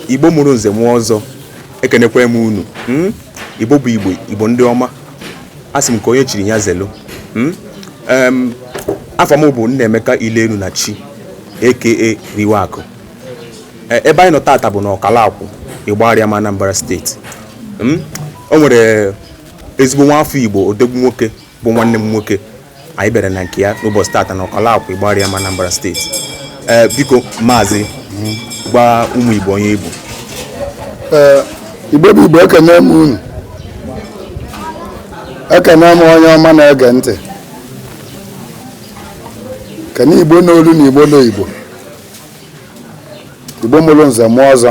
igbo mụrụ nze mụọ ọzọ ekenekwa m unu hmm? igbo bụ igbo igbo ndị ọma a sị m ka onye chiri ya zelu hmm? afa m bụ Nnaemeka Ilenu na chi aka riwe akụ e, ebe anyị nọ tata bụ na Ọkalakwụ Igbariam Anambra steeti hmm? o nwere ezigbo nwa afọ igbo odegwu nwoke bụ nwanne m nwoke anyị bịara na nke ya n'ụbọchị tata na Ọkalakwụ Igbariam Anambra steeti ee biko maazị gwa ụmụ igbo onye ị bụ ee igbo bụ igbo ekene m unu ekene m onye ọma na-ege ntị kene igbo n'olu na igbo n'igbo igbo mụrụ nze mụọ ọzọ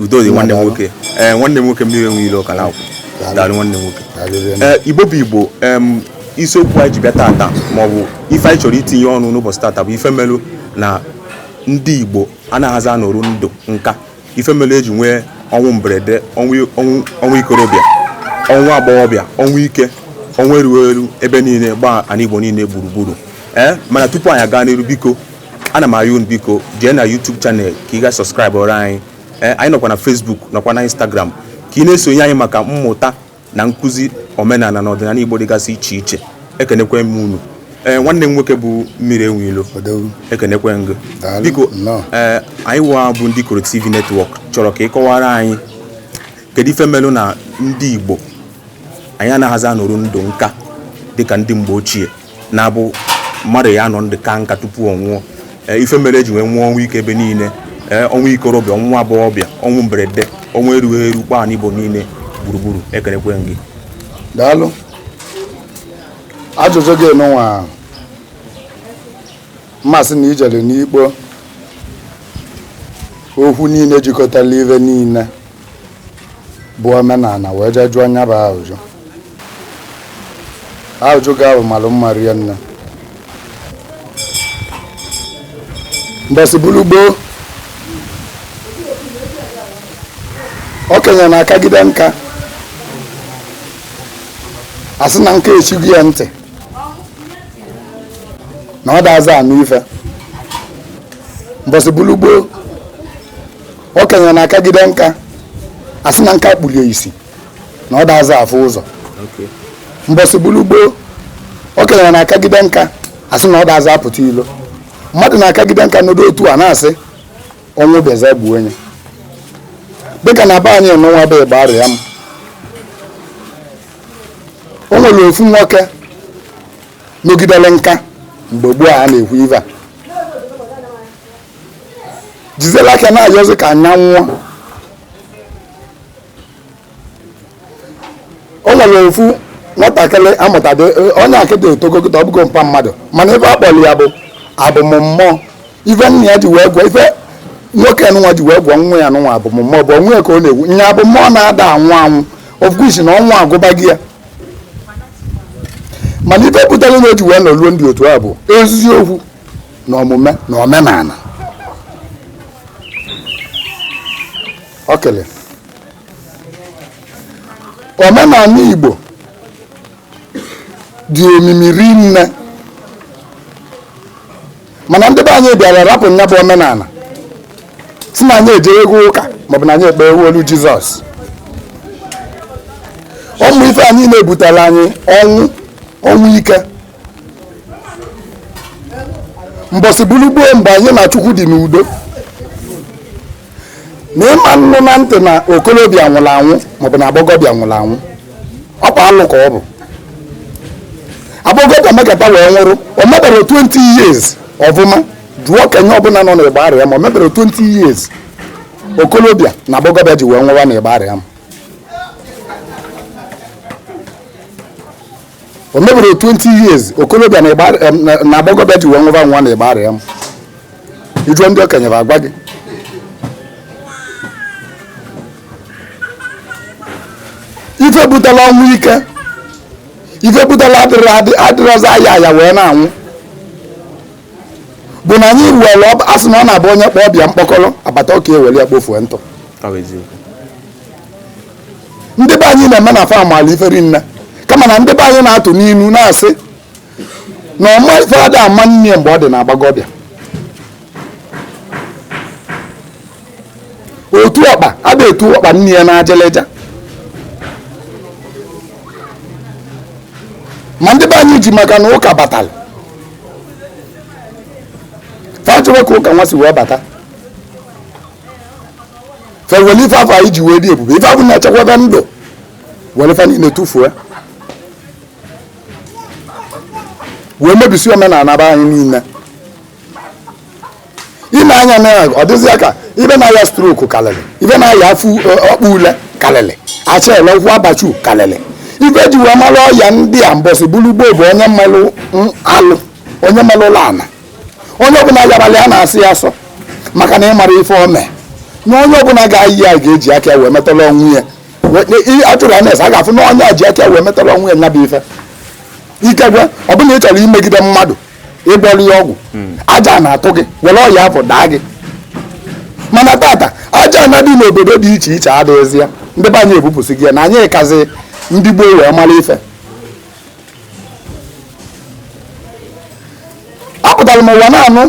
udo dị nwanne m nwoke ee eh, nwanne m nwoke mmiri enwe ilo Ọkalakwụ daalụ nwanne m nwoke ee eh, igbo bụ igbo isiokwu anyị ji bịa tata maọbụ ife anyị chọrọ itinye ọnụ n'ụbọchị tata bụ ife melu na ndị igbo anaghịzi anọrụ ndụ nka ife melu eji nwee ọnwụ mberede ọnwụ ikorobịa ọnwụ agbọghọbịa ọnwụ ike ọnwụ erughị eru ebe niile gbaa ana igbo niile gburugburu ee eh, mana tupu anyị aga n'iru biko ana m ayọ unu biko jee na YouTube channel ka ị ga subscribe ọrụ anyị eh, anyị nọkwa na Facebook nọkwa na Instagram ka ị na-esonye anyị maka mmụta na nkụzi omenala na ọdịnala Igbo dịgasị iche iche ekenekwe m unu ee eh, nwanne m nwoke bụ mmiri enwe ilo ekenekwe m gị biko ee eh, anyị wa bụ ndị Ikoro TV network chọrọ ka ị kọwara anyị kedu ife melụ na ndị Igbo anyị anaghịzi anọrụ ndụ nka dịka ndị mgbe ochie na-abụ mmadụ ya anọ ndụ ka nka tupu ọ nwụọ e, ife mere eji wee nwụọ ọnwụ ike ebe niile e, ọnwụ ikorobịa ọnwụ agbọghọbịa ọnwụ mberede ọnwụ erughị eru gbaa ana Igbo niile gburugburu ekenekwe m gị daalụ ajụjụ gị nụnwa mmasị na i jere n'ikpo okwu niile jikọtara ife niile bụ omenala wee jee jụọ nya bụ ajụjụ ajụjụ gị ahụ malụ mma rie nne mbọsị bụrụ gboo okenye na-akagide nka a sị na nka echigo ya ntị na ọ daza anụ ife mbọsị bụrụ gboo okenye na-akagide nka asị na nka kpulie isi na ọ daza afụ ụzọ mbọsị bụlụ gboo okenye na-akagide nka asị na ọ daza apụta ilo mmadụ na-akagide nka n'ụdị otu a na-asị ọnwụ bịaza gbuo onye dịka na be anyị nụnwa bụ Igbariam o nwere ofu nwoke nọgidere nka mgbe gboo a na-ekwu ive a jizela aka na-ayọzi ka nya nwụọ o nwere ofu nwatakịrị amụtadị onye akịta etogogota ọ bụgo mpa mmadụ mana ife akpọrọ ya bụ abụmmmụọ ife nna ya ji wee gụọ ife nwoke nwa ji wee gụọ nwa ya nụnwa abụmmmụọ bụ onwe ya ka ọ na-ekwu nya abụmmụọ na-ada anwụ anwụ ofkwisi na ọnwụ agụbago ya mana ife butara na o ji wee nọruo ndụ otu a bụ eziokwu na omume na omenala o kelere omenala Igbo dị omimi rinne mana ndị be anyị bịara rapụ nya bụ omenala sị na anyị ejegwo ụka maọbụ na anyị ekpegwolu Jizọs ụmụ ife anyị na-ebutara anyị ọnwụ ọnwụ ike mbọsị bụlụ gboo mgbe anyị na Chukwu dị n'udo na ịma nụ na ntị na okolobịa nwụrụ anwụ maọbụ na agbọgọbịa nwụrụ anwụ ọkwa alụ ka ọ bụ agbọgọbịa mekata wee nwụrụ o mebero 20 years ọfụma jụọ okenye ọbụla nọ n'Igbariam o mebero 20 years okolobịa na agbọgọbịa ji wee nwụwa n'Igbariam o mebero 20 years okolobịa na ịgba- em, na- na agbọghọbịa ji wee nwụba anwụ n'Igbariam ị jụọ ndị okenye fa agwa gị ife butela ọnwụ ike ife butela adịrị adị- adịrọzi aya aya wee na-anwụ bụ na anyị were ọba- a sị na ọ na-abụ onye kpọọ ọba ya mkpọkọrọ agbata oke ewere ya kpofuo ntụ Ọ bụ eziokwu. ndị be anyị na-eme na fa malụ ife rinne kama na ndị be anyị na-atụ n'inu na-asị na ọma ife ada ama nne ya mgbe ọ dị na agbọgọbịa otu ọkpa ada etu ọkpa nne ya n'ajịlịja ma ndị be anyị ji maka na ụka batara fa ajụrọ ka ụka nwa si wee bata fa ewere ife afụ anyị ji wee dị ebube ife afụ na-echekwaba ndụ were fa niile tụfuo wee mebisi omenala be anyị niile ime anya na ya ọ dịzịa ka ife na-aya stroke kalịlị ife na-aya afọ ọ- ọkpụ ule kalịlị acha ele ụkwụ abachu kalịlị ife e ji wee mara ọya ndị a mbọsị bụrụ gboo bụ onye melụ mm, alụ onye melụlụ ana onye ọbụla yarala ya a na-asọ ya asọ maka na ị mara ife o mee na onye ọbụla ga-aya ya ga-eji aka ya wee metere onwe ya atụrụ anya a ga-afụ na onye a ji aka ya wee metere onwe ya nya bụ ife ikekwe ọ bụ na ị chọrọ imegide mmadụ ịgwọrọ ya ọgwụ hmm. aja ana atụ gị were ọya afụ daa gị mana tata aja ana dị n'obodo dị iche iche adịghịzi ya ndị be anyị ebupụsịgo ya na anyị kazi ndị gboo wee mara ife apụtara m ụwa na-anụ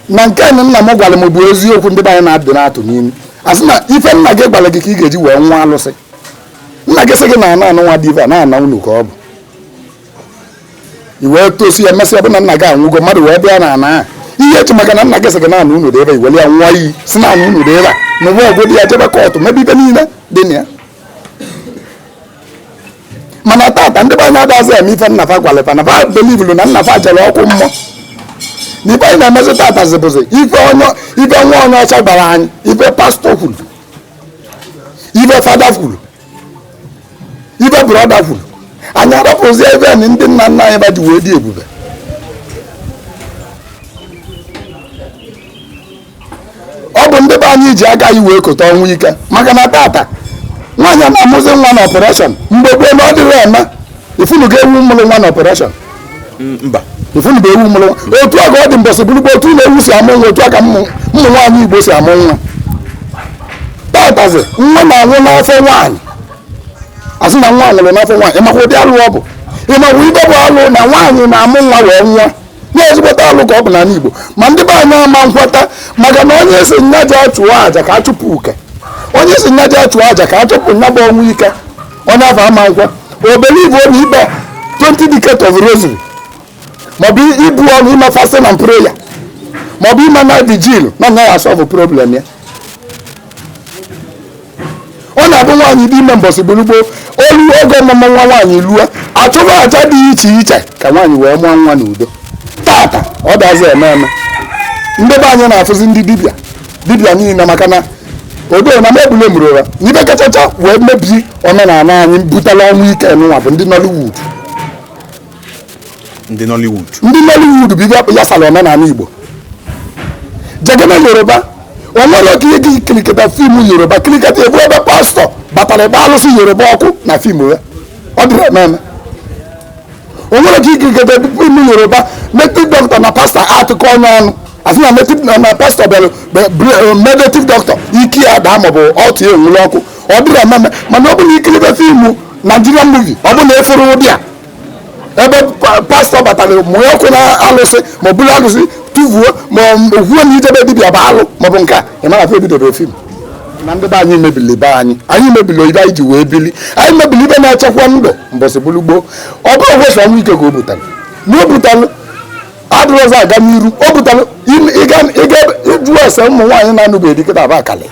na nke nụ nna m gwara m bụ eziokwu ndị be anyị na-adị na-atụ n'inu asị na ife nna gị gwara gị ka ị ga-eji wee ṅụa alụsị nna gị sị gị na ana anụnwa dị ebe a na ana unu ka ọ bụ i wee tosịa mesịa bụ na nna gị anwụgo mmadụ wee bịa na ana a ihe eji maka na nna gị sị gị na ana unu dị ebe i were ya ṅụa iyi sị na ana unu dị ebe a na ụwa ọgwụ dị ya jebe court mebe ife niile dị na ya mana tata ndị be anyị adazi eme ife nna fa gwalụ fa na fa belivulu na nna fa jere ọkụ mmụọ na ife anyị na-emezi tata zibụzi ife onye ife nwa onye ọcha gwara anyị ife pastor kwuru ife father kwuru ife brother kwuru anyị arapụzi ife ndị nna nna anyị fa ji wee dị ebube ọ bụ ndị be anyị ji aka anyị wee kota ọnwụ ike maka na tata nwaanyị a na-amụzi nwa na operation mgbe gboo na ọ dịrọ eme ị fụnugo ewu mụrụ nwa na operation mba ị fụnugo ewu mụrụ nwa otu a ka ọ dị mbọsị bụrụ gboo otu na ewu si amụ nwa otu a ka ụmụ nwaanyị igbo si amụ nwa tatazi nwa na-anwụ n'afọ nwaanyị asị na nwa nwụrụ n'afọ nwaanyị ịmakwa ụdị alụ ọ bụ ịmakwa ife bụ alụ na nwaanyị na-amụ nwa wee nwụa na ezigbote alụ ka ọ bụ n'ala Igbo ma ndị be anyị ama nkweta maka na onye ị sị nya je achụọ aja ka a chụpụ uke onye ị sị nya je achụọ aja ka a chụpụ nya bụ ọnwụ ike onye afụ ama nkwe ọ belivu na ikpe 20 decades of rosary maọbụ ibu ọnụ ime fasting and prayer maọbụ ime night vigil na nya ya asọvụ problem ya ọ na-abụ nwaanyị dị ime mbọsị gburugbo o lu oge ọmụmụ nwa nwaanyị lue a chụba aja dị iche iche ka nwaanyị wee mụọ nwa n'udo tata ọ dazi eme eme ndị be anyị na-afụzi ndị dibịa dibịa niile maka na odo na mebule mụrụ ụra na ife kachacha wee mebie omenala anyị butela ọnwụ ike n'ụwa bụ ndị Nollywood ndị Nollywood ndị Nollywood bụ ife ya sara omenala Igbo jegene Yoruba o nwere oge ị ga-ekiriketa fim Yoruba kiriketa ị fụ ebe pastọ batara ebe alụsị Yoruba ọkụ na fim ya ọ dịrọ eme eme o nwere oge i kiriketa fim Yoruba native doctor na pastọ atụkọ ọnụ ọnụ asị na native na pastọ bịara mee native doctor ike ya daa maọbụ ọtụ ya enwere ọkụ ọ dịrọ eme eme mana ọ bụ na i kiribe fim Nigerian movie ọ bụ na efere ụdị a ebe pastọ batara mụọ ọkụ na alụsị ma o buru alụsị tụvuo ma o kwuo na ije be dibịa bụ alụ maọbụ nke a ị mara afọ ebidobere fim na ndị be anyị mebili be anyị anyị mebili ife anyị ji wee bili anyị mebili ife na-echekwa ndụ mbọsị bụrụ gboo ọ bụrọkwa sọ ọnwụ ike ka o butalụ na o butalụ adịrọzị aga n'iru o butalụ ịga ịjụ ese ụmụ nwaanyị na-anụbeghị di kịta ba akalị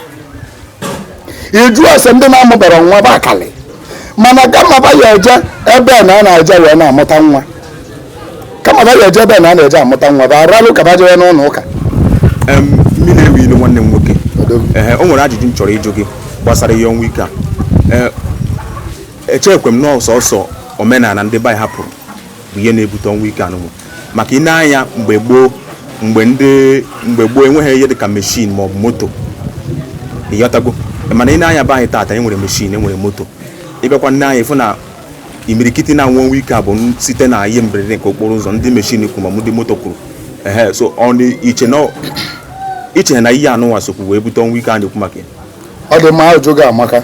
ị jụọ ese ndị na-amụberọ nwa ba akalị mana kama ba ya eje ebe na a na-eje wee na-amụta nwa kama ba ya eje ebe na a na-eje amụta nwa ba aralụ ka ba jewe n'ụlọ ụka mmiri ewu ilu nwanne m nwoke o nwere ajụjụ m chọrọ ịjụ gị gbasara ihe ọnwụ ike a echekwe m na ọ sọsọ omenala ndị be anyị hapụrụ bụ ihe na-ebute ọnwụ ike anụnwa maka i nee anya mgbe gboo mgbe ndị mgbe gboo enweghị ihe dịka meshin ma ọ bụ moto ị ghọtago mana i nee anya be anyị taata enwere meshin enwere moto ị bịakwa nee anya ị fụ na imirikiti na-anwụ ọnwụ ike a bụ site na ihe mberede nke okporo ụzọ ndị meshin kụrụ ma ndị moto kụrụ ehe so i che na ihe anụnwa sokwu wee bute ọnwụ ike a na-ekwu maka ya ọ dị mma ajụjụ gị amaka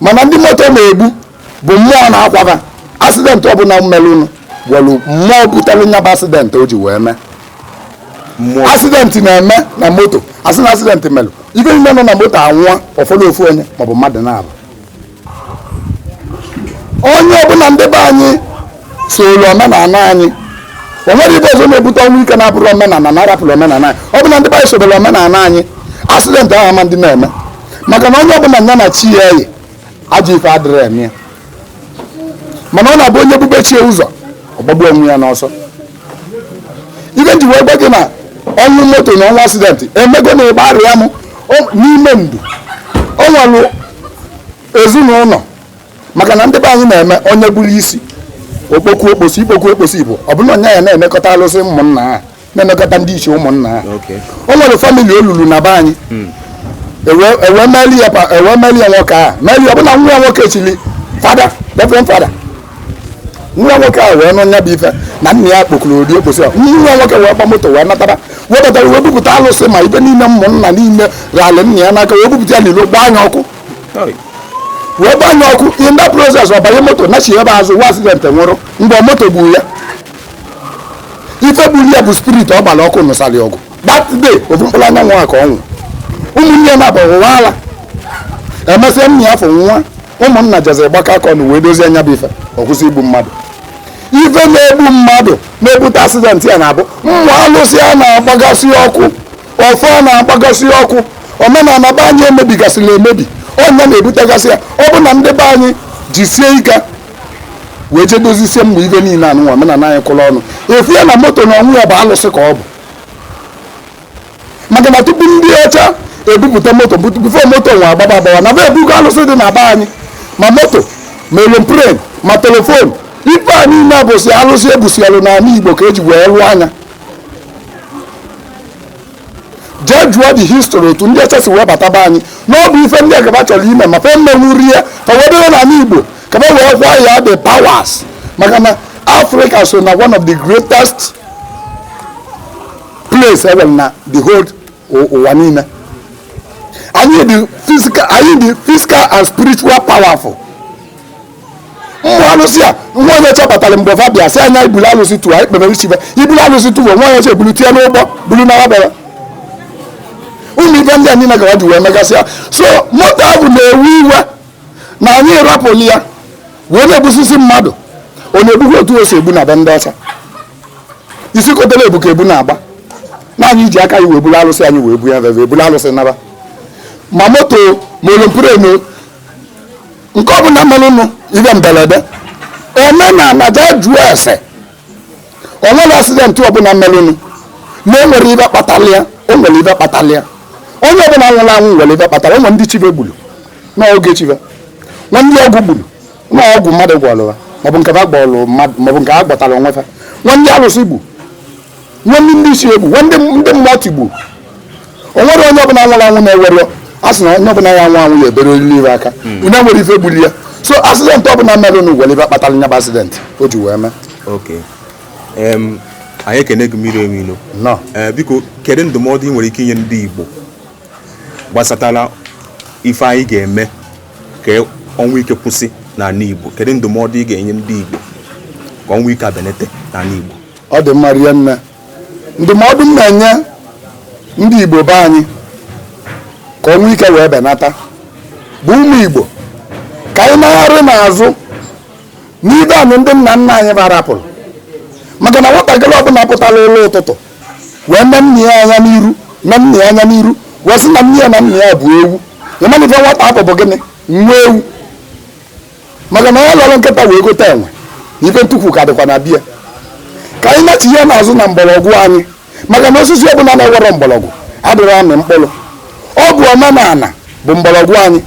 mana ndị moto na-egbu bụ mmụọ na-akwa ba asidentị ọbụla melụnụ nwelụ mmụọ butere nya bụ asidentị o ji wee mee asidentị na-eme na moto asị na asidentị melụ ife niile nọ na moto anwụọ ọ fọdụ ofu onye maọbụ mmadụ naabọ onye ọbụla ndị be anyị soolu omenala anyị o nwerọ ife ọzọ na-ebute ọnwụ ike na-abụrọ omenala na a rapụrụ omenala anyị ọ bụrụ na ndị be anyị sobere omenala anyị asidentị ahụ ama dị na-eme maka na onye ọbụla ya na chi ya yi ajọ ife adịrọ eme ya mana ọ na-abụ onye bube chi ya ụzọ ọ gbagbuo onwe ya n'ọsọ ife m ji wee gwa gị na ọnwụ moto na ọnwụ asidentị emego na Igbariam o- n'ime ndụ o nwere ezinụlọ maka na ndị be anyị na-eme onye buru isi ọ kpoku okposi ikpoku okposi bụ ọ bụrụ onye ya na-emekọta alụsị ụmụnna ha na-emekọta ndị ichie ụmụnna ha o nwere famili o lulu na be anyị hmm. ewee e e meli ya e nwoke a meli ọ bụrụ na nwa ya nwoke chili fada reverend fada nwa nwoke a wee nụ nya bụ ife na nna ya kpokuru ụdị okposi a nwa nwoke wee gba moto wee natara wee batara wee bupụta alụsị ma ife niile ụmụnna niile ralị nna ya n'aka wee bupụta ya n'ilo gbaa nya ọkụ wee gbanye ọkụ in that process ọ banye moto nachi ebe azụ nwee accident nwụrụ mgbe moto gburu ya ife gburu ya bụ spirit ọ gbara ọkụ nụsara ọgụ that day ofu mkpụrụ anya nwa ka ọ nwụ ụmụnne m abụ ụwa ala emesịa nya ọfọ nwa ụmụnna jezie gbakọ aka ọnụ wee dozie nya bụ ife ọ kwụsị igbu mmadụ ife na-egbu mmadụ na-ebute accident ya na-abụ ụmụ alụsị a na-agbagasị ọkụ ọfọ na-agbagasị ọkụ omenala be anyị emebigasịrị emebi ọ nya na-ebutegasị ya ọ bụ na ndị be anyị jisie ike wee jee dozisie ụmụ ife niile anụnwa omenala anyị kwụrụ ọnụ efu ya na moto n'onwe ya bụ alụsị ka ọ bụ maka na tupu ndị ọcha ebupụta moto before moto nwa agbaba agbawa na be ebugo alụsị dị na be anyị ma moto ma aeroplane ma telephone ife a niile bụsị alụsị ebusialụ n'ala igbo ka e ji wee lụọ nya jee jụọ the history otu ndị ọcha si wee bata be anyị na ọ bụ ife ndị a ka ba chọrọ ime ma fe emenwurọ ya ka wee dịrị n'ala igbo ka be wee kwaa ya the powers maka na africa so na one of the greatest place ever na the whole ụ- ụwa niile anyị dị physical and spiritual powerful ụmụ alụsị a nwa onye ọcha pụtara mgbe fa bịa sị anyị bulu alụsị tụwa anyị kpebere chi ve i bulu alụsị tụwa nwa onye ọcha ebulu tie n'ụgbọ bulu na wabara ụmụ ife ndị a niile ka ha ji wee megasịa so moto ahụ na-ewu iwe na anyị rapụli ya wee na-egbusisi mmadụ ọ na-egbukwa otu o si egbu na be ndị ọcha isi kotara ebu ka ebu na-agba na anyị ji aka anyị wee buru alụsị anyị wee bunye ve ve eburu alụsị naba ma moto ma aeroplane nke ọ bụla mere ụnụ ihe mberede omenala jee jụọ ese o nwere accident ọbụla mere ụnụ na o nwere ife kpatara ya o nwere ife kpatara ya onye ọbụla nwụrụ anwụ nwere ife kpatara o nwere ndị chi ve gburu n'oge chi ve nwee ndị ọgwụ gburu na ọgwụ mmadụ gwọrọ ha maọbụ nke ha gwọrọ mmadụ maọbụ nke ha gwọtara onwe ha nwee ndị alụsị gbu nwee ndị ndị ichie gbu nwee ndị ndị mmụọ tigbu o nwerọ onye ọbụla nwụrụ anwụ na-enwerọ a sị na onye ọbụla ya anwụ anwụ ya eberelili ife aka na o nwere ife gbuli ya so accident ọbụla merenụ nwere ife kpatara nya bụ accident o ji wee mee Okay. Em, anyị ekene gị mmiri enwe ilo Nnọọ. Ee, biko kedu ndụmọdụ ị nwere ike inye ndị Igbo gbasatara ife anyị ga-eme ka ọnwụ ike kwụsị n'ala Igbo kedu ndụmọdụ ị ga-enye ndị Igbo ka ọnwụ ike a benata n'ala Igbo ọ dị mma rie nne ndụmọdụ m na-enye ndị Igbo be anyị ka ọnwụ ike wee benata bụ ụmụ Igbo ka anyị nagharị n'azụ n'ibe anyị ndị nna nna anyị ba rapụrụ maka na nwatakịrị ọbụla pụtara ụlọ ụtụtụ wee nee nne ya anya n'iru nee nna ya anya n'iru wee sị na nne ya na nna ya bụ ewu ị ma ife nwata afụ bụ gịnị nwa ewu maka na onye lere nkịta wee gote enwe na ife ntukwu ka dịkwa na be ya ka anyị nachie n'azụ na mgbọrọgwụ anyị maka na osisi ọbụla na-enwerọ mgbọrọgwụ adịrọ amị mkpụrụ ọ bụ omenala bụ mgbọrọgwụ anyị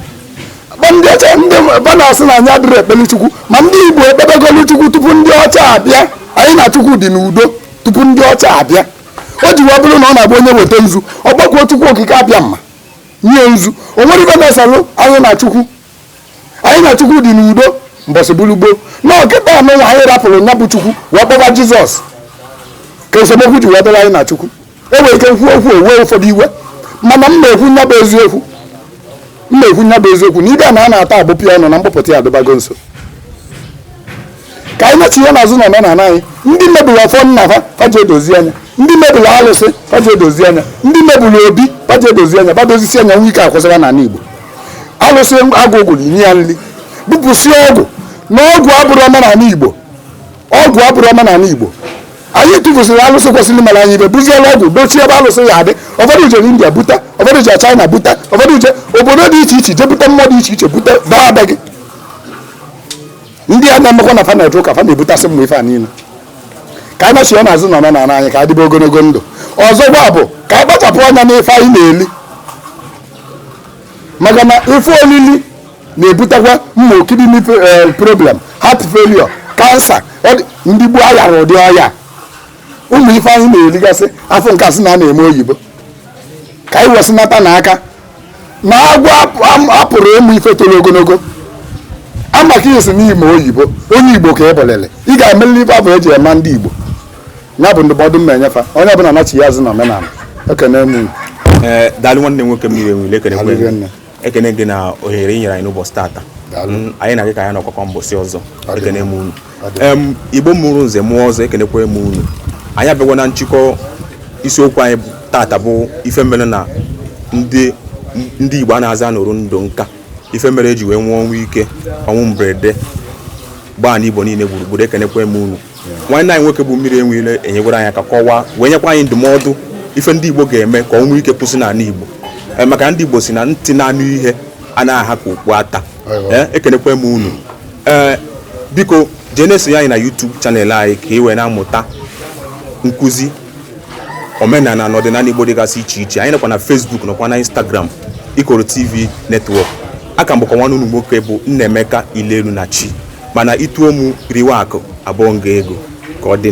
ma ndị ọcha ndị ba na-asị na anyị adịrọ ekpere chukwu ma ndị igbo ekpebegolu chukwu tupu ndị ọcha abịa anyị na chukwu dị n'udo tupu ndị ọcha abịa o ji wee bụrụ na ọ na-abụ onye weta nzu ọ kpọkuo chukwu okike abịama nye nzu o nwerọ ife na-eselụ anyị na chukwu anyị na chukwu dị n'udo mbọsị bụrụ gboo na ọ kịta anụnwa anyị rapụrụ nya bụ chukwu wee kpọba jizọs ka esemokwu ji wee dịrị anyị na chukwu e nwere ike kwuo okwu o wee ụfọdụ iwe mana m na-ekwu nya bụ eziokwu m na-ekwu nya bụ eziokwu na ibe a na a na-ata agbụpụ ya ọnụ na mkpọpụta ya adịbago nso ka anyị nachie n'azụ na omenala anyị ndị mebiri ọfọ nna ha fa je dozie nya ndị mebiri alụsị fa je dozie nya ndị mebiri obi fa je dozie nya ba dozisịa nya ọnwụ ike akwụsị n'ala Igbo alụsị agụụ gụrụ nye ya nri bupụsị ọgwụ na ọgwụ abụrọ omenala Igbo ọgwụ abụrọ omenala Igbo anyị tụfusịrị alụsị kwesịrị mere anyị ife buziela ọgwụ dochie ebe alụsị ya-adị ụfọdụ jere india buta ụfọdụ jere china buta ụfọdụ je obodo dị iche iche jebute mmụọ dị iche iche buta baa be gị ndị a na-emekwa na fa na-eje ụka fa na-ebutasị ụmụ ife a niile ka anyị nachie n'azụ na omenala anyị ka a dịbe ogologo ndụ ọzọkwa bụ ka anyị kpachapụ anya n'ife anyị na-eli maka na ife olili na-ebutekwa ụmụ kidney problem heart failure kansa ndị gboo ayarọ ụdị ọya ụmụ ife anyị na-eligasị afụ nke a sị na a na-eme oyibo ka anyị wesịnata nya aka na agwọ apụrụ ịmụ ife toro ogologo amaka isi n'ime oyibo onye igbo ka ị bụlịlị ị ga-emelili ife afụ eji ama ndị igbo ya bụ ndụmọdụ m na-enye fa onye ọbụla nachie azụ na omenala ekene m unu daalụ nwanne nwoke mmiri enwe ilo ekene ekene gị na ohere ị nyere anyị n'ụbọchị taata anyị na gị ka ya-anọkọkwa mbọsị ọzọ ekene m unu igbo mụrụ nze mụọ ọzọ ekenekwa m unu anyị abịagwa na nchịkọ isiokwu anyị tata bụ ife mere na ndị igbo anazị anọru ndụ nka ife mere eji wee nwụọ ọnwụ ike ọnwụ mberede gbaa na igbo niile gburugburu ekenekwa m unu nwanne anyị nwoke bụ mmiri enwe ilo enyegwara anyị aka kọwaa wee nyekwa anyị ndụmọdụ ife ndị igbo ga-eme ka ọnwụ ike kwụsị n'ala igbo eh, maka ndị igbo sị na ntị na-anụ ihe anaghị aha ka okpu ata Eh, ekenekwe m unu ee eh, biko jee na-esonye anyị na YouTube channel anyị ka ị wee na-amụta nkụzi omenala na ọdịnala Igbo dịgasị iche iche anyị nọkwa na Facebook nọkwa na Instagram Ikoro TV Network aka m bụkwa nwanne unu nwoke bụ Nnaemeka Ilelu na Chi mana i tuo m riwe akụ abụọ nga ego ka ọ dị